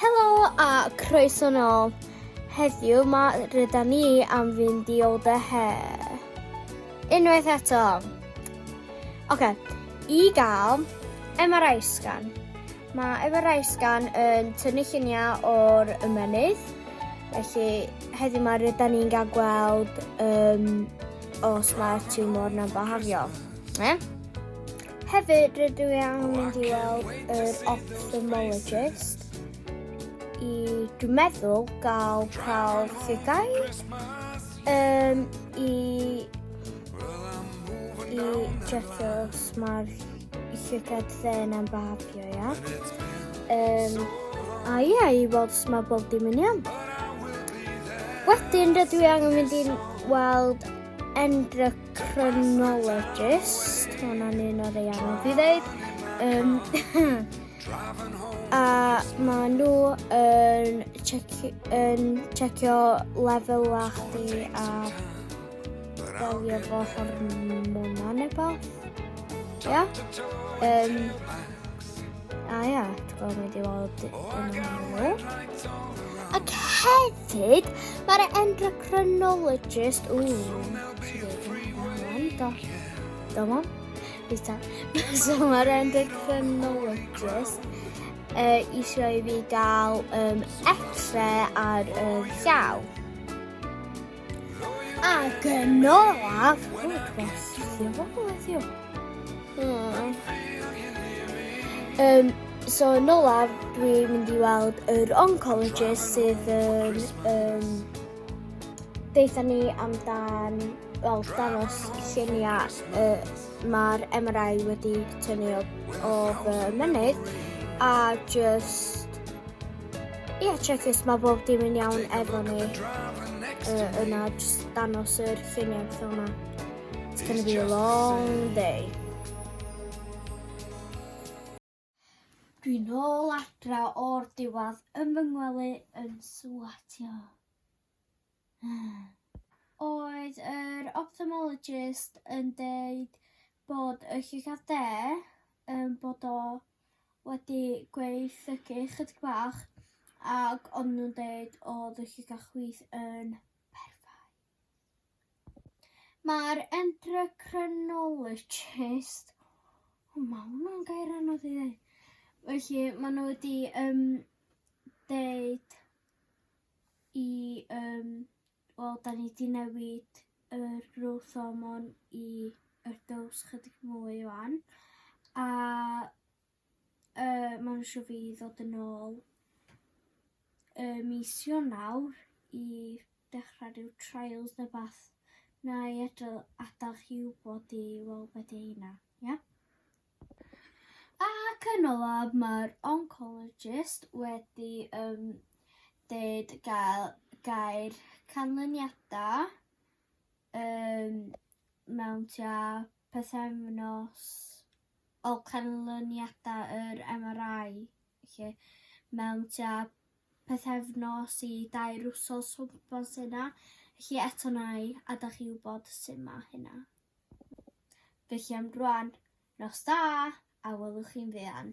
Helo a croeso nôl. Heddiw mae rydyn ni am fynd i ôl dy he. Unwaith eto. Oce, okay. i gael MRI scan. Mae MRI scan yn tynnu lluniau o'r ymenydd. Felly, heddiw mae rydyn ni'n gael gweld um, os mae'r tiwmor na'n byhafio. Ne? Hefyd rydw i am mynd i weld yr ophthalmologist i dwi'n meddwl gael cael ffigau um, i i just os mae'r llygad dden am babio ia. Um, a ia, i weld os mae bob dim yn iawn. Wedyn rydw i angen mynd i'n weld endrog chronologist, hwnna'n un o'r ei anodd i ddeud. Um, a mae nhw yn, checio, yn checio lefel a chdi a delio fo hormona neu beth. Ia? Um, A ia, ti'n gwybod mynd i weld Ac hefyd, mae'r endocrinologist... Ww, do. Do mo? Bita. so mae'r endocrinologist uh, eisiau i fi gael um, x-ray ar y uh, llaw. Ac yn olaf, hmm. Um, so yn olaf, dwi'n mynd i weld yr oncologist sydd yn um, deitha ni amdan well, dangos lluniau uh, mae'r MRI wedi tynnu o, o fy mynydd a just Ie, yeah, check this, mae bob dim yn iawn efo ni. Uh, yna, just danos yr ffiniau beth yma. It's going to be a long day. Dwi'n ôl adra o'r diwad yn fy ngwely yn swatio. Oedd yr ophthalmologist yn deud bod y llygad de yn bod o wedi gweithygu chydig bach ac o'n nhw'n deud oedd y llygad chwith yn perffaith. Mae'r endocrinologist... O, mae hwnna'n gair anodd i ddeud. Felly, maen nhw wedi um, deud i yym wel 'dan ni 'di newid yr growth hormone i yr dose chydig mwy ŵan a yy ma' nw isio fi ddod yn ôl yy mis Ionawr i dechra ryw trials ne' wbath 'nai edl- adal chi wbod i weld be' 'di heina. Ia? Ac yn olaf, mae'r oncologist wedi um, dweud gael gair canlyniadau um, mewn tua pethefnos o canlyniadau yr MRI lle mewn tua pethefnos i dair wsos o gwmpas yna. Felly eto nai, a da chi wybod sut mae hynna. Felly am rwan, nos da, a welwch chi'n fuan.